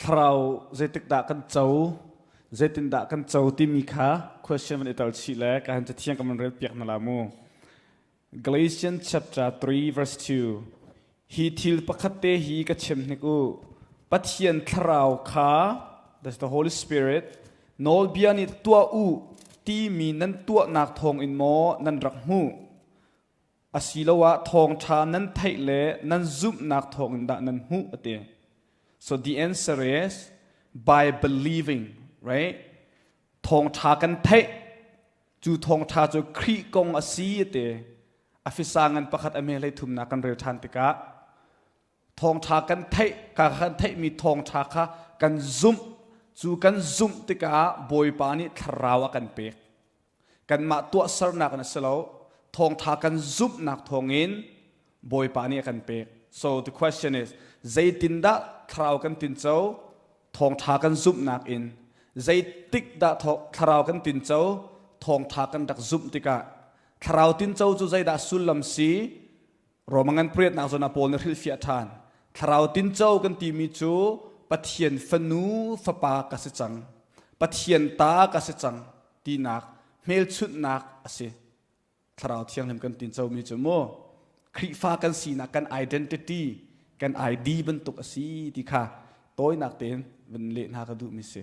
thlarau zeitikdah kan co zeitindah kan co timi kha question van i tel chih le ka han cathiang kan van rel piak na la mu Galatians chapter 3 verse 2 hi thil pakhat te hi ka chim hnik u Pathian thlarau kha that's the Holy Spirit nawlbia nih tuah u timi nan tuahnak thawng in maw nan rak hmuh asiloah thawngṭha nan theih le nan zumhnak thawngin dah nan hmuh a ti. So the answer is by believing, right? Thawngṭha kan theih cu thawngṭha cu Khrih kong a si a ti. A fisang ngan pakhat a mehlei thumnak kan rel ṭhan tikah thawngṭha kan theih ka kan theihmi thawngṭha kha kan zumh cu kan zumh tikah bawipa nih thlarau a kan pek kanmah tuahsernak in a si lo thawngṭha kan zumhnak thawngin bawipa nih a kan pek so the question is zeitindah thlarau kan tinco thawngṭha kan zumhnak in zeitik dah thlarau kan tinco thawngṭha kan rak zumh tikah thlarau tinco cu zeidah sullam si Roma ngan pariatnak zon ah Paul nih hrilfiah ṭhan. Thlarau tinco kan timi cu Pathian fanu fapa ka si cang. Pathian ta ka si cang tinak hmelchunhnak a si. Thlarau thianghlim kan tincomi cu mu Khrihfa kan sinak kan identity, kan ID bantuk a si ti kha tawinak tein vun leh hna ka duhmi si.